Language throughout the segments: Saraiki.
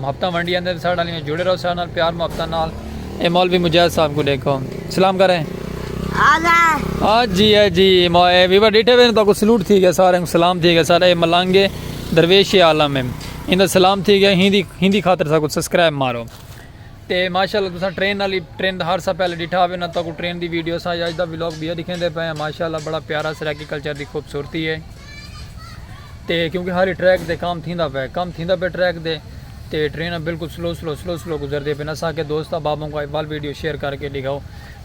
محبتاں ونڈی آندے ساڈے نال ایویں جڑے رہو ساڈے نال پیار محبتاں نال اے مولوی مجاہد صاحب کو ڈیکھو سلام کریں ہاں جی ہے جی مائے ویور ڈیٹھے ہوئے تو کو سلوٹ تھی گیا سارے کو سلام تھی گیا سارے ملانگے درویش عالم ہے ان دا سلام تھی گیا ہندی ہندی خاطر سا کو سبسکرائب مارو تے ماشاءاللہ تساں ٹرین والی ٹرین دا ہر سا پہلے ڈیٹھا ہوئے نا تو کو ٹرین دی ویڈیو سا یا اج دا ولاگ بھی دکھیں دے پے ہیں ماشاءاللہ بڑا پیارا سرائیکی کلچر دی خوبصورتی ہے تے کیونکہ حالی ٹریک دے کام تھیندا پئے کم تھیندا پئے ٹریک دے تے ٹرین بالکل سلو سلو سلو سلو گزردی پئے نسا کے دوست احبابوں کو احوال ویڈیو شیئر کر کے ڈگھاؤ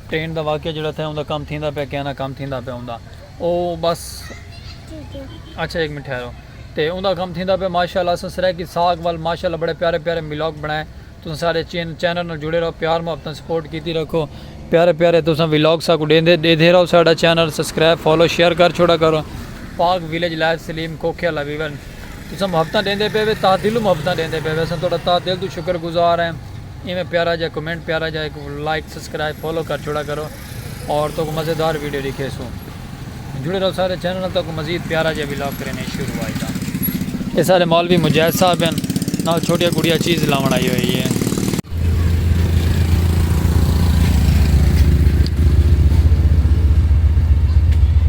ٹرین دا واقعہ جڑا تھا اوندا کم تھیندا پئے کینا کم تھیندا پئے اوندا او بس اچھا ایک منٹ ٹھہرو تے اوندا کم تھیندا پئے ماشاءاللہ اساں سرائیکی ساگ وال ماشاءاللہ بڑے پیارے پیارے ملاگ بنائے تساں ساڈے چین چینل نال جڑے رہو پیار محبت نال سپورٹ کیتی رکھو پیارے پیارے تساں ولاگ ساکوں ڈیندے ڈیدھے رہو ساڈا چینل سسکرائب فالو شیئر کر چھوڑا کرو پاک ویلیج لائف سلیم کوکھے والا ویور تساں محبتاں ڈیندے پے وے تاہ دلوں محبتاں ڈیندے پے وے اساں تہاڈا تاہ دل توں شکر گزار ہیں ایویں پیارا جا کمنٹ پیارا جا ایک لائک سسکرائب فالو کر چھوڑا کرو اور تکوں مزیدار ویڈیو ڈیکھیسوں جڑے رہو سارے چینل نال تکوں مزید پیارا جے ولاگ کرینے شروع آئی دا اے سارے مولوی مجاہد صاحب ہیں نال چھوٹیا گڑیا چیز لاون آئی ہوئی ہے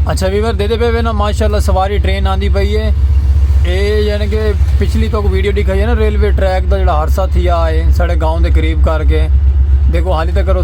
اچھا ویور دے دے پہ نا ماشاءاللہ سواری ٹرین آندی پئی ہے اے یعنی کہ پچھلی تو ویڈیو دکھائی ہے نا ریلوے ٹریک دا جڑا حادثہ تھیا ہے ساڑے گاؤں دے قریب کر کے دیکھو حالی تک کرو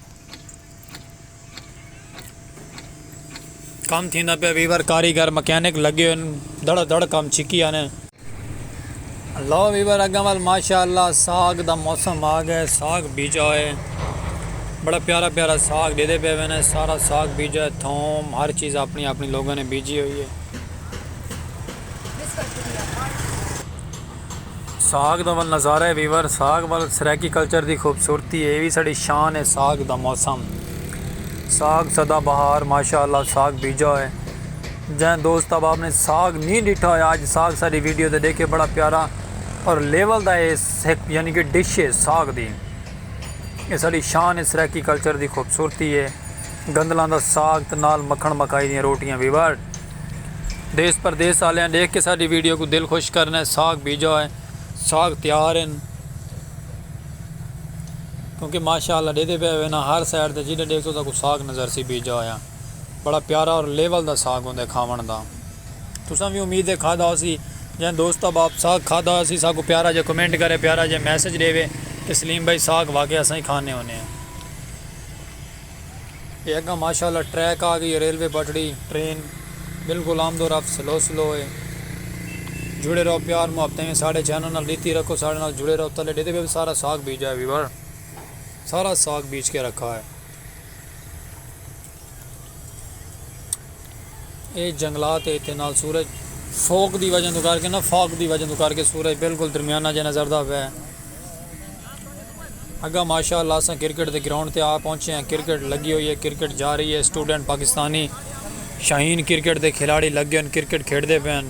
کم تھیندا پیا ویور کاریگر مکینک لگے ہوئے دھڑا دھڑ کم چھکی آنے لو ویور اگاں وال ماشاءاللہ ساگ دا موسم آ گئے ساگ بیجا ہوئے بڑا پیارا پیارا ساگ دے دے پہ وینے سارا ساگ بیجا ہے تھوم ہر چیز اپنی اپنی لوگوں نے بیجی ہوئی ہے ساگ دا ول نظارہ ہے ویور ساگ ول سرائیکی کلچر دی خوبصورتی ہے وی ساڑی شان ہے ساگ دا موسم ساگ سدا بہار ماشاءاللہ ساگ بیجا ہے جن دوست اب آپ نے ساگ نہیں ڈٹھا ہے آج ساگ ساری ویڈیو دے دیکھے بڑا پیارا اور لیول دا ہے یعنی کہ ڈش ہے ساگ دی یہ ساڑی شان ہے سرائیکی کلچر دی خوبصورتی ہے گندلان دا ساگ تے نال مکھن مکائی دی روٹیاں ویور دیس پردیس آلیاں ڈیکھ کے ساڈی ویڈیو کوں دل خوش کرنے ساگ بیجا ہوئے ساگ تیار ہیں کیونکہ ماشاءاللہ ڈیدے پہ ہوئے نا ہر سائیڈ تے جیڈے ڈیکھ تو تاکو ساگ نظر سی بیجا ہویا بڑا پیارا اور لیول دا ساگ ہوندے کھاون دا تساں بھی امید ہے کھادا ہو سی جن دوست اب آپ ساگ کھادا ہو سی ساکو پیارا جے کمنٹ کرے پیارا جے میسج ڈیوے کہ سلیم بھائی ساگ واقعی اساں ہی کھانے ہونے ہیں اے اگاں ماشاء اللہ ٹریک آ گئی اے ریلوے بٹڑی ٹرین بلکل آمد و رفت سلو سلو اے جڑے رہو پیار محبت ایویں ساڈے چینل نال ڈیتی رکھو ساڈے نال جڑے رہو تلے ڈیتے پے سارا ساگ بیجا اے ویور سارا ساگ بیج کے رکھا اے اے جنگلات اے تے نال سورج فوک دی وجہ تو کر کے نا فاک دی وجہ تو کر کے سورج بالکل درمیانہ جے نظر دا پے اگاں ماشاء اللہ اساں کرکٹ دے گراؤنڈ تے آ پہنچے ہاں کرکٹ لگی ہوئی ہے کرکٹ جا رہی ہے سٹوڈنٹ پاکستانی شاہین کرکٹ دے کھلاڑی لگے ہن کرکٹ کھیڈدے پئے ہن۔